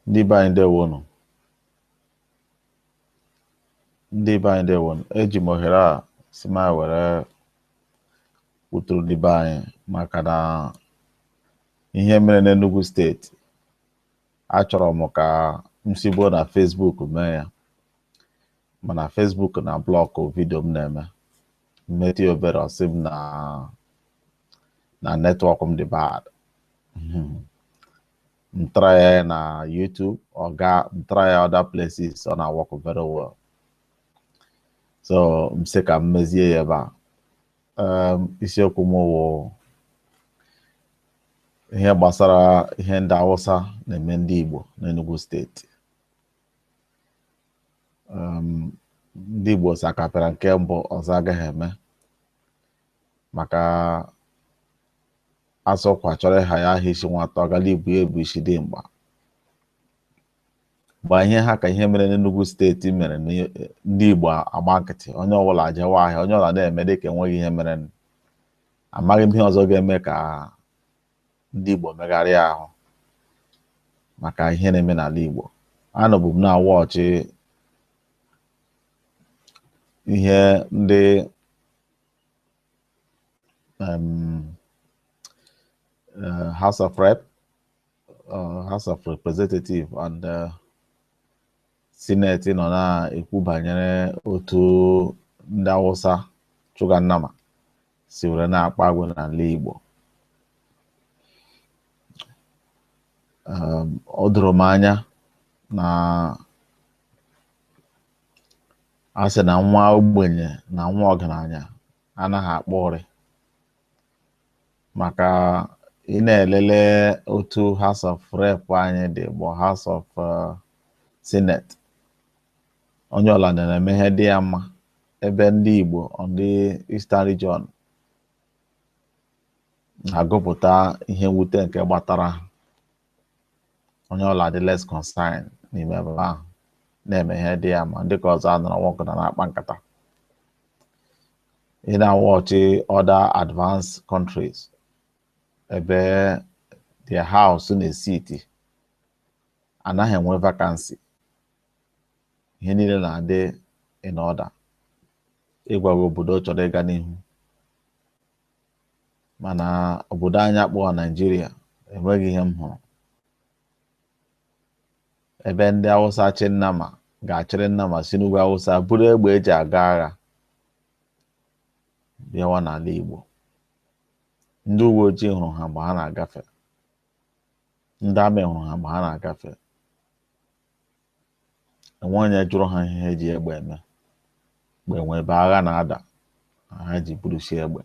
Ndị be anyị ndewonụ. Ndị be anyị ndewonụ. Eji m ohere a sị ma m were kwuturu ndị be anyị maka na ihe mere n'Enugu steeti achọrọ m ka m sigbuo na Facebook mee ya mana Facebook na-ablọkụ vidio m na-eme m metụ ya obere ọ sị m na na netwọk m dị bad hmm. m try ya na YouTube ọ ga m try ya other places ọ na-work very well so m sị ka m mezie ya ebe a um, isiokwu m wụ ihe gbasara ihe ndị Awụsa na-eme ndị Igbo n'Enugu steeti um, ndị Igbo sị a ka pịara nke mbụ ọzọ agaghị eme maka a sị ọkwa chọrọ ịha ya aha isi nwata ọgala ibu ya bụ isi dimkpa gba ihe ha ka ihe mere n'Enugu steeti mere ndị Igbo agba nkịtị onye ọbụla ajewa ahịa onye ọbụla na-eme dịka enweghị ihe mere amaghị m ihe ọzọ ga-eme ka ndị Igbo megharịa ahụ maka ihe na-eme n'ala Igbo anọbụ m na-awọchị ihe ndị um, uh, House of Rep, uh, House of Representative and uh, Senate nọ na-ekwu banyere otu ndị Awụsa chụga nnama si were na-akpa agwa n'ala Igbo um, ọ doro m anya na a sị na nwa ogbenye na nwa ọgaranya anaghị akpa ụrị maka ị na-elele otu House of Rep anyị dị both House of uh, Senate onye ọla na-eme ihe dị ya mma ebe ndị Igbo ndị Eastern Region na-agụpụta ihe mwute nke gbatara ha onye ọla dị less concern n'ime ebe ahụ na-eme ihe dị ya mma ndị ka ọzọ anọrọ nwoke na na-akpa nkata ị na-awọchị other advanced countries ebe their house na-esiiti anaghị enwe vacancy ihe niile na-adị in order ịgwa gị obodo chọrọ ịga n'ihu mana obodo anyị akpọọ Naijiria enweghị ihe m hụrụ ebe ndị Awụsa chị nnama ga-achịrị nnama si n'ugwu Awụsa buru egbe eji aga agha bịawa n'ala Igbo ndị uwe ojii hụrụ ha mgbe ha na-agafe ndị amị hụrụ ha mgbe ha na-agafe enwe onye jụrụ ha ihe ha ji egbe eme mgbe enwe ebe agha na-ada ha ji burusi egbe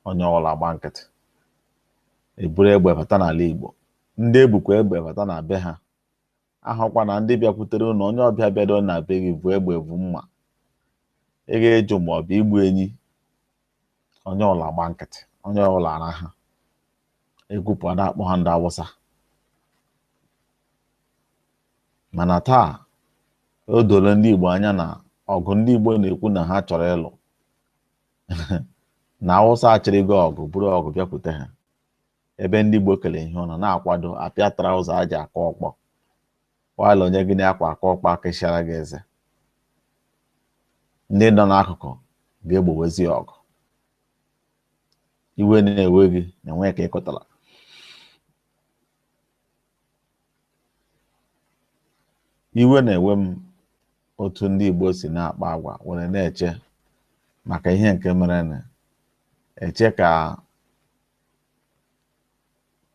onye ọbụla gba nkịtị eburu egbe bata n'ala Igbo ndị ebukwa egbe bata na be ha ahụkwa na ndị bịakwutere unu onye ọbịa bịado na be gị bu egbe bu mma ị ga-ejụ ma ọ bụ igbu enyi onye ọbụla gba nkịtị onye ọbụla ara ha ekwupụ a na-akpọ ha ndị awụsa mana taa o doro ndị igbo anya na ọgụ ndị igbo na-ekwu na ha chọrọ ịlụ na awụsa achịrịgo ọgụ buru ọgụ bịakwute ha ebe ndị igbo kere ihe ụlọ na-akwado apịa traụza e ji akụ ọkpọ while onye gị na ya kwa akụ ọkpọ akụchara gị eze ndị nọ n'akụkụ ga-egbowezi ọgụ iwe na-ewe gị na enwe ka ị kọtara iwe na-ewe m otu ndị Igbo si na-akpa agwa were na-eche maka ihe nke mere na eche ka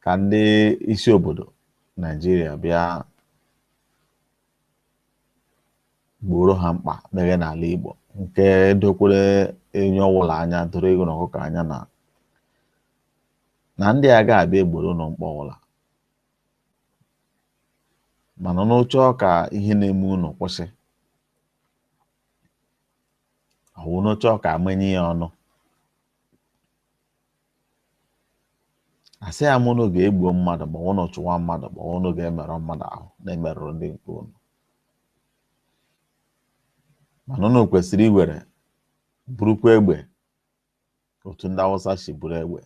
ka ndị isi obodo Naijiria bịa gboro ha mkpa meghe n'ala Igbo nke dokwara onye ọwụla anya doro eghu na ọkụkọ anya na na ndị a ga-abịa egboro unu mkpa ọwụla mana unu chọọ ka ihe na-eme unu kwụsị ọwụ unu chọọ ka e menye ya ọnụ asịghị m ụnụ gaa gbuo mmadụ ma ụnụ chụwa mmadụ ma ụnụ gaa merụọ mmadụ ahụ na-emerụrụ ndị nke ụnụ mana ụnụ kwesịrị iwere burukwa egbe otu ndị awụsa si buru egbe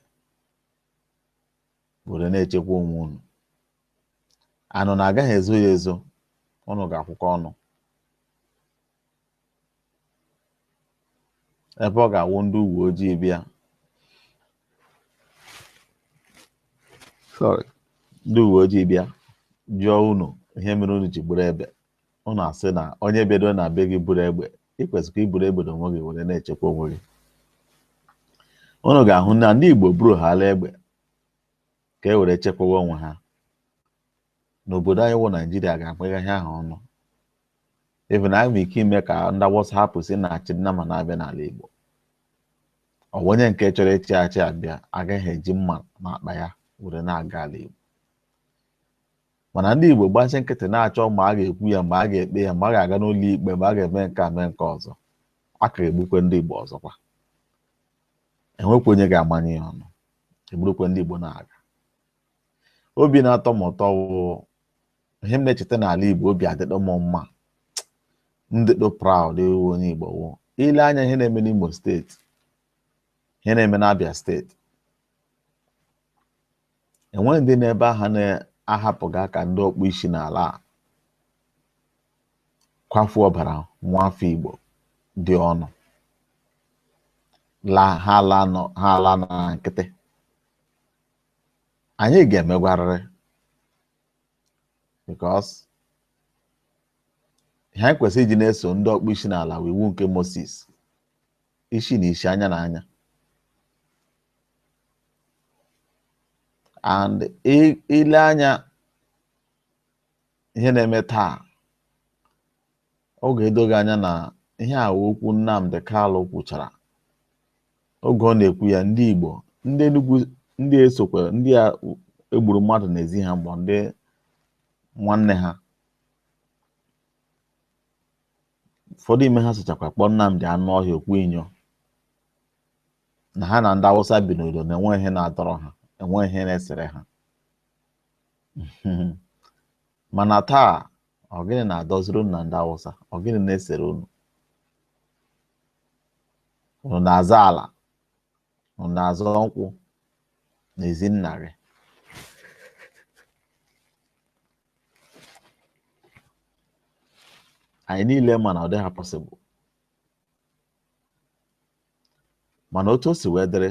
were na-echekwa onwe ụnụ and ụnụ agaghị ezo ya ezo ụnụ ga-akwụkọ ọnụ ebe ọ ga-awụ ndị uwe ojii bịa sorry ndị uwe ojii bịa jụọ unu ihe mere unu ji buru egbe unu asị na onye bịado na be gị buru egbe ị kwesịrị iburu egbe n'onwe gị were na-echekwa onwe gị unu ga-ahụ na ndị Igbo buruhala egbe ka e were chekwawa onwe ha n'obodo anyị wụ naijiria ga-akpagha ihe ahụ ọnụ even anyị nwere ike ime ka ndị awụsa hapụ isi na-achị nnama na-abịa n'ala igbo ọ bụ onye nke chọrọ ịchị ehi abịa agaghị eji mma n'akpa ya were na-aga ala igbo mana ndị igbo gbasi nkịtị na-achọ ma a ga-ekwu ya ma a ga-ekpe ya ma a ga-aga n'ụlọ ikpe ma a ga-eme nke a mee nke ọzọ a ka egbukwe ndị igbo ọzọkwa enwekwa onye ga-amanye ya ọnụ egburukwe ndị igbo na-aga obi na-atọ m ụtọ wụ ihe m na-echeta n'ala Igbo obi adịdọ m mma m dịdụ proud ịwụ onye Igbo wụ ile anya ihe na-eme n'Imo steeti ihe na-eme n'Abia steeti enweghị ndị n'ebe aha na-ahapụghị aka ndị ọkpụ isi n'ala akwafu ọbara nwa afọ Igbo dị ọnụ la ha ala nọ ha ala na nkịtị anyị ga-emegwarịrị because ihe anyị kwesịrị iji na-eso ndị ọkpụ isi n'ala wụ iwu nke Moses isi na isi anya na anya and i lee anya ihe na-eme taa Ọ ga-edo gị anya na ihe a wụ okwu Nnamdi Kalụ kwuchara oge ọ na-ekwu ya ndị Igbo ndị Enugu ndị sokwa ndị e gburu mmadụ n'ezi ha mgbe ndị nwanne ha ụfọdụ ime ha sochakwa kpọọ Nnamdi anụ ọhịa okwu inyo na ha na ndị Awụsa bi n'udo na enwe ihe na-adọrọ ha enwe ihe na-esere ha mana taa ọ gịnị na-adọziri unu na ndị awụsa ọ gịnị na-esere unu unu na-azọ ala unu na-azọ nkwụ n'ezi nna gị anyị niile ma na ọ dịghị possible mana otu o si wee dịrị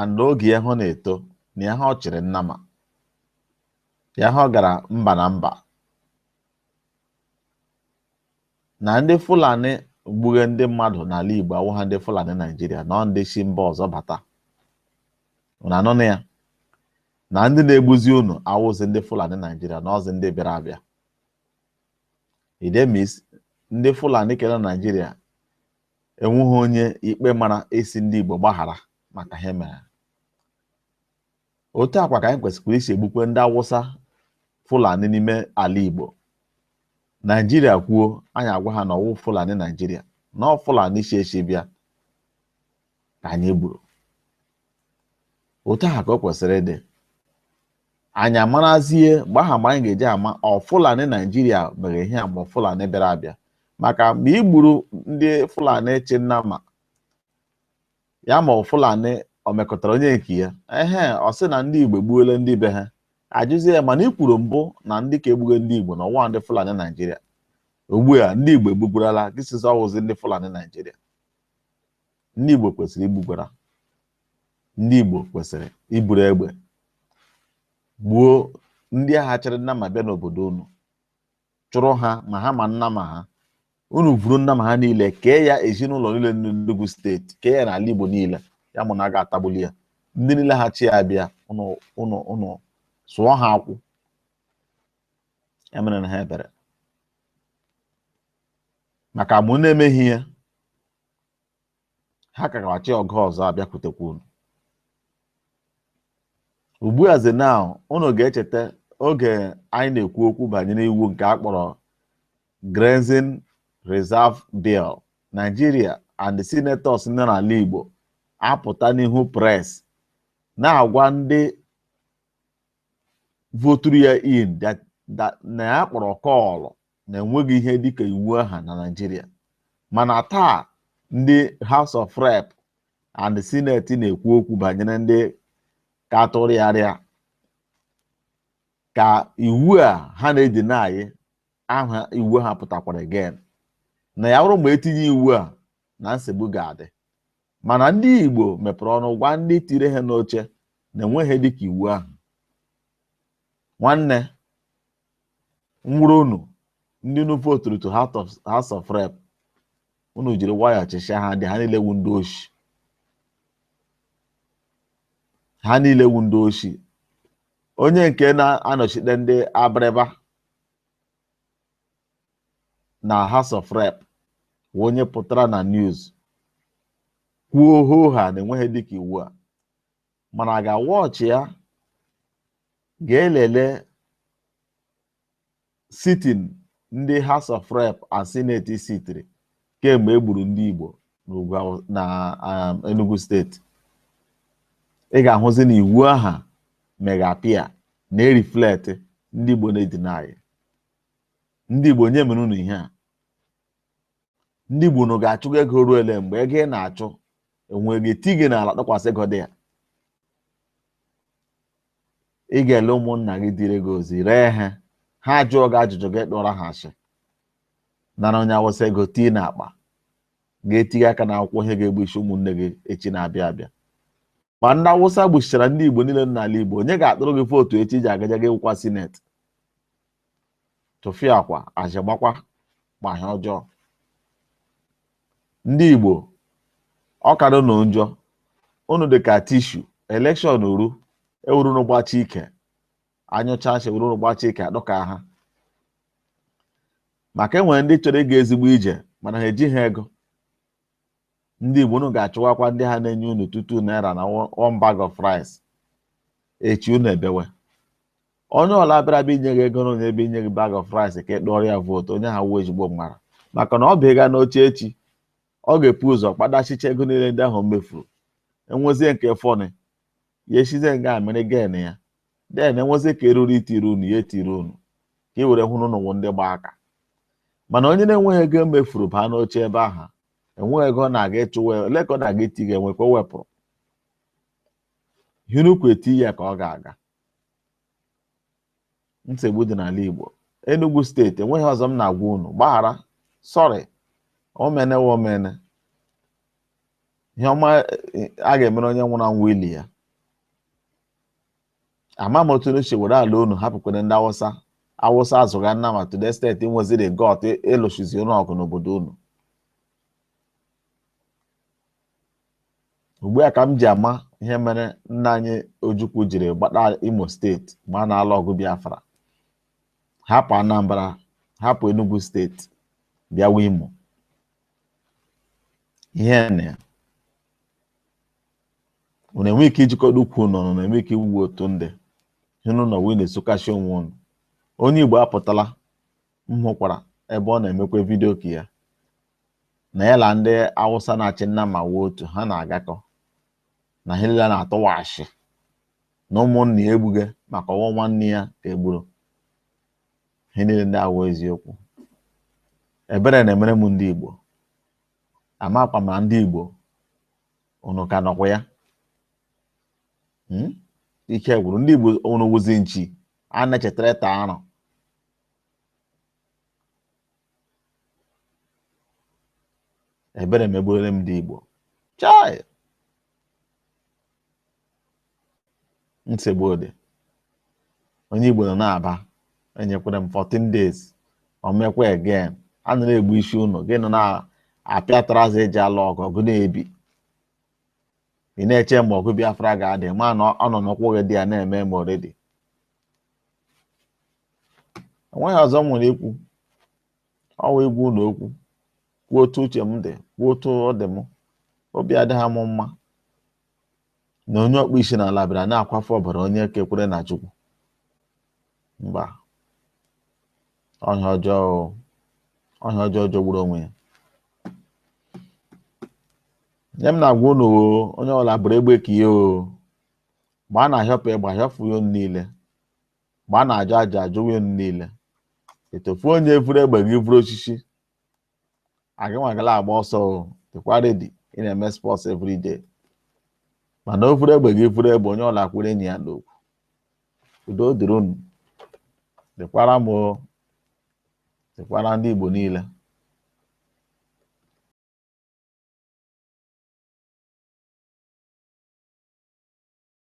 and oge ya ha na-eto na ya ha ọ chịrị nnama ya ha ọ gara mba na mba na ndị Fulani gbughe ndị mmadụ n'ala Igbo awụha ndị Fulani Naijiria na ọ ndị si mba ọzọ bata unu anụna ya na ndị na-egbuzi unu awụzi ndị Fulani Naijiria na ọzi ndị bịara abịa that means ndị Fulani kere Naijiria enweghị onye ikpe mara a sị ndị Igbo gbaghara maka ihe mere otu a kwa ka anyị kwesịkwara isi egbukwe ndị Awụsa Fulani n'ime ala Igbo Naijiria kwuo anyị agwa ha na ọ wụ Fulani Naijiria na ọ Fulani si esi bịa ka anyị gburu otu ahụ ka o kwesịrị ịdị anyị amarazie mgbe aha mgbe anyị ga-eji ama ọ Fulani Naijiria mere ihe a ma ọ Fulani bịara abịa maka mgbe i gburu ndị Fulani chị nnama ya ma ọ Fulani o mekọtara onye nke ya ehe ọ sị na ndị Igbo egbuola ndị be ha ajụzie ya mana i kwuru mbụ na ndị ka egbuge ndị Igbo na ọwa ndị Fulani Naijiria ugbu a ndị Igbo egbugwarala gị sịzi ọ wụzi ndị Fulani Naijiria ndị Igbo kwesịrị igbugwara ndị Igbo kwesịrị iburu egbe gbuo ndị aha chịrị nnama bịa n'obodo unu chụrụ ha ma ha ma nnama ha unu vuru nnama ha niile kee ya ezinụlọ niile n'Enugu steeti kee ya n'ala Igbo niile ya ma unu a ga-atagbuli ya ndị niile ha chị ya bịa unu unu unu sụọ ha akwụ emerena ha ebere maka ma unu emeghị ya ha ka ga-achị ọgụ ọzọ abịakwutekwa unu ugbu a ze now unu ga-echeta oge anyị na-ekwu okwu banyere iwu nke a kpọrọ Grazing Reserve Bill Nigeria and the senators nọ n'ala Igbo apụta n'ihu press na-agwa ndị voturu ya in that- that- na ya kpọrọ kọọlụ na enweghị ihe dịka iwu aha na Naịjirịa mana taa ndị House of Rep and Senate na-ekwu okwu banyere ndị cattle rearer ka iwu a ha na-edeny aha iwu aha pụtakwara again na ya bụrụ ma e tinye iwu a na nsogbu ga-adị mana ndị Igbo mepere ọnụ gwa ndị tiri ha n'oche na enweghị ihe dịka iwu aha nwanne nwụrụ unu ndị unu voturu to House of Rep unu jiri nwayọọ chịchịa ha dị ha niile wu ndị oshi ha niile wu ndị oshi onye nke na-anọchite ndị Abịrịba na House of Rep wu onye pụtara na news kwuo hoo haa na enweghị ihe dịka iwu a mana a gaa watch ya gaa lele sitting ndị House of Rep and Senate sitiri kemgbe e gburu ndị Igbo n'ugwu Aw- na um, Enugu steeti ị ga-ahụzi na iwu aha megapia na-ereflect ndị Igbo na-edeny ndị Igbo onye mere unu ihe a ndị Igbo unu ga-achụga ego ruo ele mgbe ego ị na-achụ e were gị etii gị n'ala tụkwasị ego dị ya ị ga-ele ụmụnna gị dịrị gị ozi ree ha ha jụọ gị ajụjụ gị tụọrọ ha asị nara onye awụsa ego tii n'akpa ga-etinye aka na akwụkwọ ihe ga-egbusi ụmụnne gị echi na-abịa abịa ma ndị awụsa gbuchichara ndị igbo niile n'ala igbo onye ga-atụrụ gị vootu echi ji agaja gị wụkwa sineti tụfịakwa azị gbakwa gbaa ihe ọjọọ ndị Igbo ọ kadụ unu njọ unu dị ka tishu elekshọn ruo ewuru unu gbachi ike anyụcha nsị ewuru unu gbachi ike adọka ha maka e nwere ndị chọrọ ịga ezigbo ije mana ha ejighị ego ndị Igbo unu ga-achụwakwa ndị ha na-enye unu two two naira na one bag of rice echi unu ebewe onye ọla bịara bịa inye gị ego or onye bịa inye gị bag of rice ka ị tụọrọ ya vootu onye ahụ awụghị ezigbo mmadụ maka na ọ bụ ịga n'oche echi ọ ga-ebu ụzọ kpatachicha ego niile ndị ahụ o mefuru e nwezie nke fọnị ya esizie nga ahụ mere gain ya then e nwezie ka eruru itiri unu ya etiri unu ka ị were hụ na unu wụ ndị gba aka mana onye na-enweghị ego o mefuru baa n'oche ebe ahụ enweghị ego ọ na-aga ịchụwa ole ka ọ na-aga iti ga enwe ka o wepụrụ ihe unu kwu eti ya ka ọ ga-aga nsogbu dị n'ala Igbo Enugu steeti enweghị ọzọ m na-agwa unu gbaghara sọrị o meene wụ o meene ihe ọma eh, a ga-emere onye nwụrụ anwụ ili ya ama m otu unu si were ala unu hapụkwara ndị awụsa awụsa azụga nnama to the state nweziri gut ịlụchizi unu ọgụ n'obodo unu ugbu a ka m ji ama ihe mere nna anyị Ojukwu jiri gbata Imo steeti ma a na-alụ ọgụ Biafra hapụ Anambra hapụ Enugu steeti bịawa Imo ihi na ya unu enwe ike ijikọta ukwu unu ọnụ unu enwe ike ịwụ otu ndị unu na wee na-esokasị onwe unu onye Igbo apụtala m hụkwara ebe ọ na-emekwa vidio nke ya na ya na ndị awụsa na-achị nnama wụ otu ha na-agakọ na ha niile na-atụwa asị na ụmụnna ya egbughị maka ọ wụ nwanne ya ka e gburu ihe niile ndị awụ eziokwu ebere na-emere m ndị igbo amakwa m ma ndị igbo unu ka nọkwa ya hmm? ike gwụrụ ndị igbo unu wụzi nchi a na-echetara taa arụ ebere megbuole m ndị Igbo chai nsogbu dị onye Igbo nọ n'Aba enyekwara m 14 days o mekwa again a nọ na-egbu isi unu gị nọ na-apịa trouser e ji alụ ọgụ ọgụ na-ebi ị na-eche mgbe ọgụ Biafra ga-adị mana ọ nọ n'ụkwụ gị there na-eme ma already o nweghị ọzọ m nwere ikwu ọ wụ ịgwa unu okwu kwuo otu uche m dị kwuo otu ọ dị m obi adịghị m mma na onye ọkpụ isi n'ala bịara na-akwafu ọbara onye ke kwere na Chukwu mba ọ ihe ọjọọ ọ ihe ọjọọ jọgburu onwe ya nya m na-agwa unu onye ọwụla buru egbe ka ihe o mgbe a na-ahịọpụ ịgba ahịọpụ ya unu niile mgbe a na-ajụ aja ajụwa unu niile etofu onye vuru egbe gị vuru osisi agịnwagala agba ọsọ o dịkwa ready ị na-eme sports everyday mana o vuru egbe gị vuru egbe onye ọwụla kwere enyi ya n'okwu udo dịrị unu dịkwara m o dịkwara ndị Igbo niile